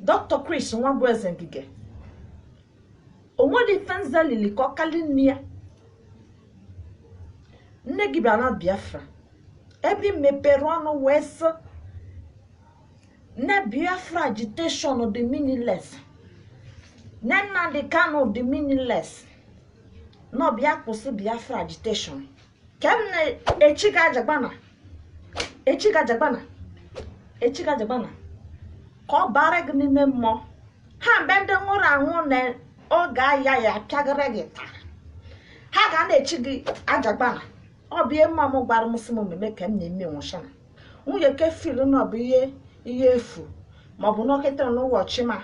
Dr. Chris Nwabueze Ngige onwere ife nza lili ka ọ kali nne ya nne gị bịara na Biafra ebe ị mepere ọnụ wee sị na Biafra agitation dị meaningless na Nnamdi Kanu dị meaningless na ọ bịa kwụsị Biafra agitation kem na-echi gị ajagbana echi gị ajagbana echi gị ajagbana ka ọ bara gị n'ime mmụọ ha bụ ndị nwụrụ anwụ na oge aya ya apịagara gị taa ha ga na-echi gị ajagbana ọ bụ ihe mmụọ m gwara m sị m mmemme ka m na-eme nwụchana onye ke feel na ọ bụ ihe efu maọbụ nọkịta n'ụbọchị ma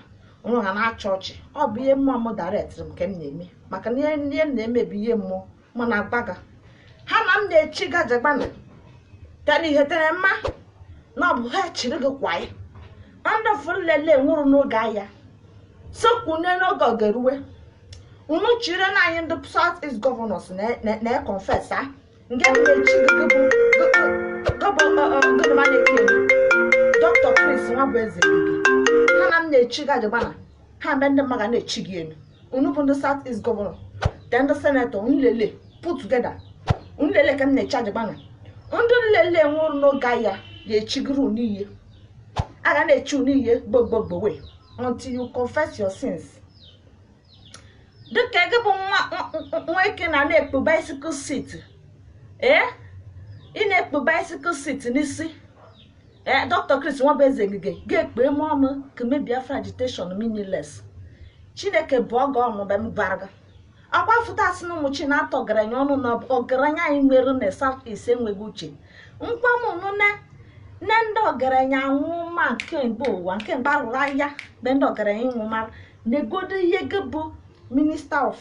ụrụ ha na-achị ọchị ọ bụ ihe mmụọ m directịrị m ka m na-eme maka na ihe m na-eme bụ ihe mmụọ mana agbaga ha na m na-echi gị ajagbana tara ihe tere mma na ọ bụ ha chiri gị kwa ya ndị afụ nlele nwụrụ n'oge aya sokwune n'oge ọ ga-eruwe unu chire na anyị ndị south east governors na-econfess a nke bụ echi dọkịta chris nwabueze ha na m na-echi gị ajagbana ha bụ ndị mmụọ ga na-echi gị elu unu bụ ndị south east governor te ndị senator unu lele put together unu lele ka m na-echi ajagbana ndị nlele nwụrụ n'oge aya ga-echigoro unu ihe a ga na-echi unu ihe gbogbogbowe until you confess your sins dịka gị bụ nwoke na na-ekpu bicycle seat ee ị na-ekpu bicycle seat n'isi ee dọkịta Chris Nwabueze Ngige ga-ekpee m ọnụ ka me biafra agitation meaningless chineke bụọ gị ọnụ mgbe m gwara gị akwa fụta asị na ụmụ chi na-atọ ọgaranya ọnụ na ọgaranya anyị nwere na south east enweghị uche nkwa m nụ na nne ndị ọgaranya anwụ ma nke mgbe ụwa nke mgbe arụrụ aya mgbe ndị ọgaranya ịnwụ mara negodo ihe gị bụ minister of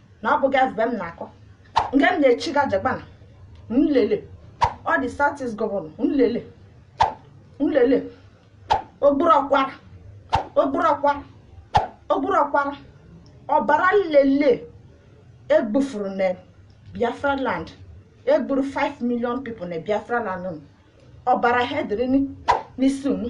na ọ bụghị ebe m na-akọ nke m na-echi gị ajagbana nlele ndị south east governor nlele nlele ogburu ọkwara ogburu ọkwara ogburu ọkwara ọbara nlele egbufuru na biafra land egburu 5 million people na biafra land ọbara ha dịrị n'isi unu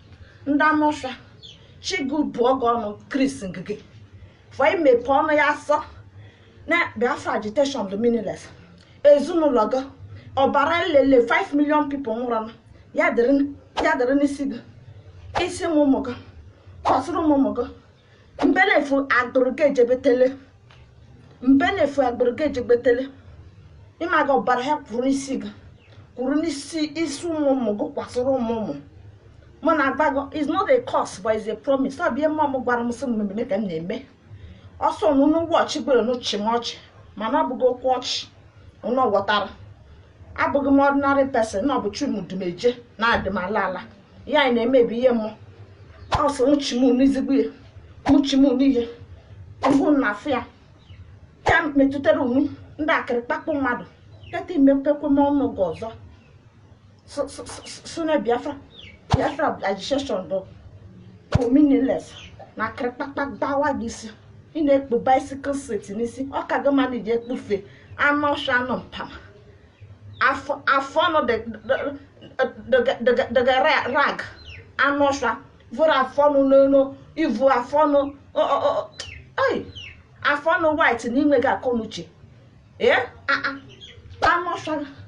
ndị anụ ọfịa chukwu bụọ gị ọnụ chris ngige for imepe ọnụ ya asị na biafra agitation dị meaningless ezinụlọ gị ọbara nlele 5 million people nwụrụ n'aya dịrị ya dịrị n'isi gị isi ụmụ ụmụ gị kọsịrị ụmụ ụmụ gị mbenefu agbụrụ gị ejebetele mbenefu agbụrụ gị ejebetele ị mago ọbara ha kwuru n'isi gị kwuru n'isi isi ụmụ ụmụ gị kwasịrị ụmụ ụmụ mụ na-agwa gị is not a curse but is a promise ọ bụ ihe mmụọ m gwara m sị m mmemme ka m na-eme ọ sọ ụnụ ọchị gbere ụnụ chị m ọchị mana ọ bụghị okwu ọchị ụnụ ghọtara abụghị m ordinary person na ọ bụ chi mụ du m eje na-edu m ala ala ihe anyị na-emebi ihe mụ ọsọ nwụchi m n'izigbo ihe nwụchi m n'ihe mbụ na afụ ya ya metụtara onwe ndị akịrị kpakpụ mmadụ teta i mepekwa ọnụ gị ọzọ sị na biafra biafra agitation bụ meaningless na akịrị kpakpa gbawa gị isi ị na-ekpu bicycle seat n'isi ọ ka gị mma na i ji ekpufe anụ ọsha anụ mpama afọ afọ ọnụ dị ka rag anụ ọsha vuru afọ ọnụ n'elu ivu afọ ọnụ ọ- ọ- ọ- ai, afọ ọnụ white na i nweghị akọnuche ee a- a, anụ ọsha